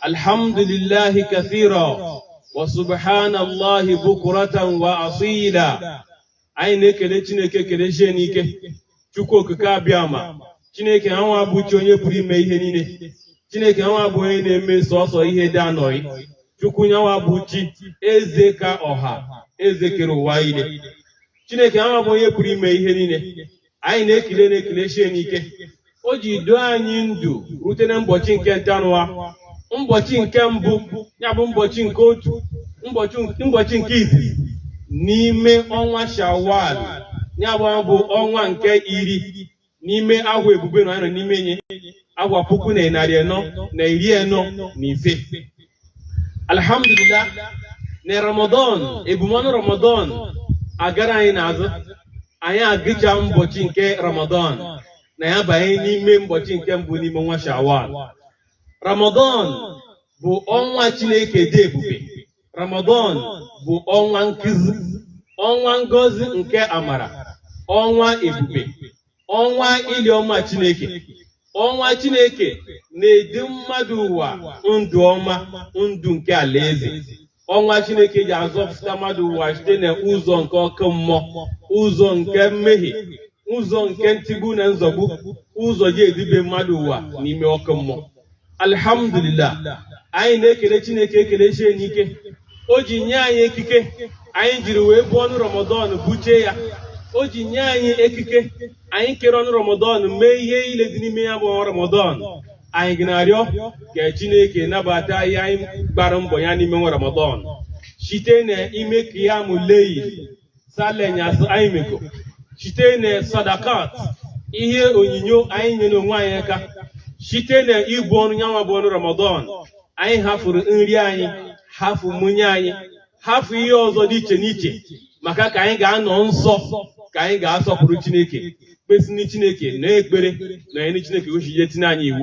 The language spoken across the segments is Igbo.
alhamdulillahi kathira wa subhanallahi bukuratan wa asila anyị na-ekele chineke ekele site n'ike chukwu okike abịama chineke ha nwa bụ chi onye pụrụ ime ihe niile chineke nwa bụ onye na-eme sọsọ ihe dị ya n'obi chukwu nyanwa bụ chi eze ka ọha eze kere ụwa ile chineke nwa bụ onye pụrụ ime ihe niile anyị na-ekele nya ekele site n'ike o ji duo anyị ndụ rute na mbọchị nke ntanụwa mbọchị nke mbụ ya bụ mbọchị nke otu mbọchị nke izizi n'ime ọnwa shawal ya bụ bụ ọnwa nke iri n'ime ahwa ebube na anyị nọ n'ime nye ahwa puku na narị anọ na iri anọ na ise alhamdulillah na ramadan ebumọnụ ramadan agara anyị n'azụ anyị agụcha mbọchị nke ramadan anyị abanye n'ime mbọchị nke mbụ n'ime ọnwa shawal ramadan bụ ọnwa chineke dị ebube ramadan bụ ọnwa nkuzi ọnwa ngọzi nke amara ọnwa ebube ọnwa iru ọma Chineke ọnwa Chineke na-edu mmadụ ụwa ndụ ọma ndụ nke alaeze ọnwa Chineke ji azọpụta mmadụ ụwa site na ụzọ nke ọkụ mmụọ ụzọ nke mmehie ụzọ nke ntigbu na nzọgbu ụzọ ji edube mmadụ ụwa n'ime ọkụ mmụọ alhamdulillah anyị na-ekele chineke ekele site n'ike o ji nye anyị ekike anyị jiri wee buo ọnụ ramadan buchaa ya o ji nye anyị ekike anyị kere ọnụ ramadan mee ihe ile dị n'ime ya bụ ọnwa ramadan anyị ji na-arịọ ka chineke nabata ihe anyị gbara mbọ ya n'ime ọnwa ramadan site na ime qiyamul lail sala anyasị anyị mego site na sadakat ihe onyinyo anyị nyere onwe anyị aka site na ibu ọnụ nyanwa bụ ọnụ ramadan anyị hafụrụ nri anyị hafụ nwunye anyị hafụ ihe ọzọ dị iche n'iche maka ka anyị ga-anọ nsọ ka anyị ga-asọpụrụ chineke kpesini chineke na ekpere na anyị chineke o si ji tinye anyị iwu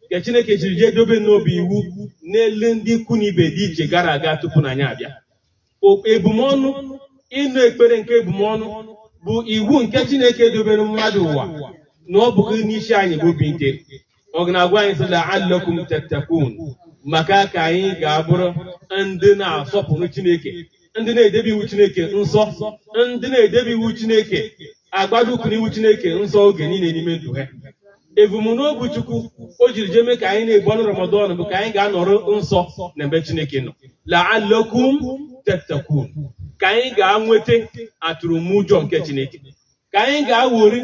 nke Chineke jiri jee dobe na ọ bụ iwu n'elu ndị ikwu na ibe dị iche gara aga tupu na anyị abịa O- ebumọnụ ịnụ ekpere nke ebumọnụ bụ iwu nke Chineke dobere mmadụ ụwa na ọ bụghị n'isi anyị bụ obi nke ọ ga na-agwa anyị sị la'allakum tattaqun maka ka anyị ga-abụrụ ndị na-asọpụrụ Chineke ndị na-edebe iwu Chineke nsọ ndị na-edebe iwu Chineke agbado ụkwụ n'iwu Chineke nsọ oge niile n'ime ndụ ha ebumnobi Chukwu o jiri jee mee ka anyị na-ebu ọnụ Ramadan bụ ka anyị ga-anọrọ nsọ n'ebe Chineke nọ la'allakum tattaqun ka anyị ga-nweta atụrụmụjọ nke Chineke ka anyị ga-awori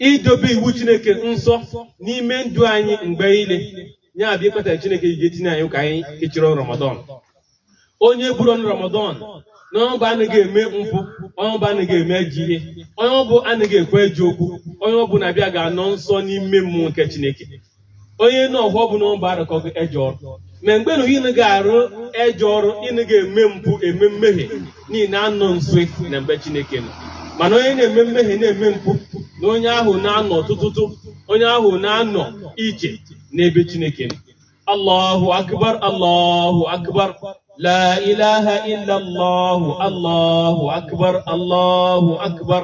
idobe iwu chineke nsọ n'ime ndụ anyị mgbe niile ya bụ ihe kpatara chineke iji etinye anyị ka anyị kechiri ọnụ ramadan onye buru ọnụ ramadan na onye ọ bụ anaghị eme mpụ onye ọ bụ anaghị eme ajọ ihe onye ọ bụ anaghị ekwu ejọ okwu onye ọ bụ na-abịa ga-anọ nsọ n'ime mmụọ nke chineke onye na ọhụọ bụ na ọba arụkọghị ejọ ọrụ ma mgbe na ị naghị arụ ejọ ọrụ ị naghị eme mpụ eme mmehie na ị na-anọ nso na ebe chineke nọ mana onye na-eme mmehie na-eme mpụ na onye ahụ na-anọ tụtụtụ onye ahụ na-anọ iche n'ebe chineke nọ allahu akbar allahu akbar la ilaha illallah allahu akbar allahu akbar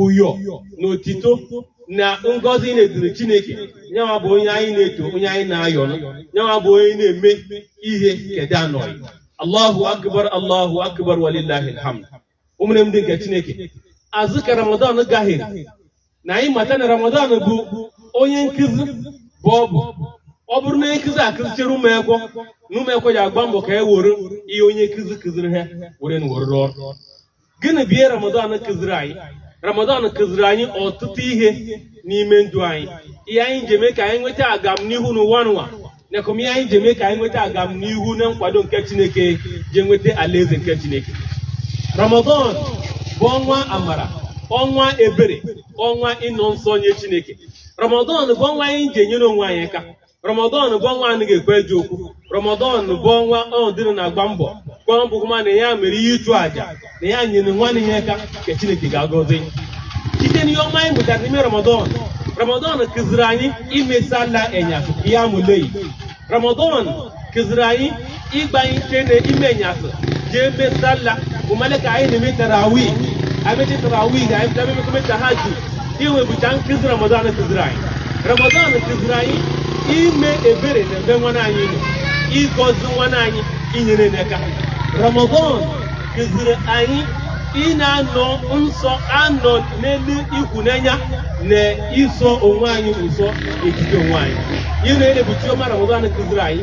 ụyọ na otito na ngọzi na-adịrị chineke ya nwa bụ onye anyị na-eto onye anyị na-ayọ ya nwa bụ onye na-eme ihe kedu anọghị allahu akbar allahu akbar walillahil hamd ụmụnne m ndị nke chineke azụ ka ramadan gahere na anyị mata na ramadan bụ onye nkụzi bụ ọ bụ ọ bụrụ na onye nkụzi akụzichere ụmụekwọ na ụmụekwọ ji agba mbọ ka e were ihe onye nkụzi kụziri ha were na were ọrụ gịnị bụ ihe ramadan kụziri anyị ramadan kụziri anyị ọtụtụ ihe n'ime ndụ anyị ihe anyị ji eme ka anyị nweta agamnihu n'ụwa nwa nakwa ihe anyị ji eme ka anyị nweta agamnihu na nkwado nke chineke ji nweta alaeze nke chineke ramadan bụ ọnwa amara ọnwa ebere ọnwa ịnọ nsọ nye chineke ramadan bụ ọnwa anyị ji enyere onwe anyị aka rọmọdọn bụ ọnwa anaghị ekwu ejọ okwu rọmọdọn bụ ọnwa ọhụ dịrị na-agba mbọ gwa mbụ ma na ya mere ihe ịchụ àjà na ya nyere nwanne ya aka ka chineke ga-agọzi site n'ihe ọma anyị mụtara n'ime rọmọdọn rọmọdọn kụziri anyị ime salla enyasụ qiyamul layl rọmọdọn kụziri anyị ịgbanite na ime enyasị jee mee salla ụmale ka anyị na-eme tarawi e mechaa tarawi ga anyị bịa mekọme tahajud ihe nwa bụcha nkụzi ramadan kụziri anyị ramadan kụziri anyị ime ebere na ebe nwanne anyị nọ ịgọzi nwanne anyị inyere n'aka ramadan kụziri anyị ị na-anọ nsọ anọ n'elu ikwunanya na ịsọ onwe anyị nsọ ejide onwe anyị ị na-ebu uche ọma ramadan kụziri anyị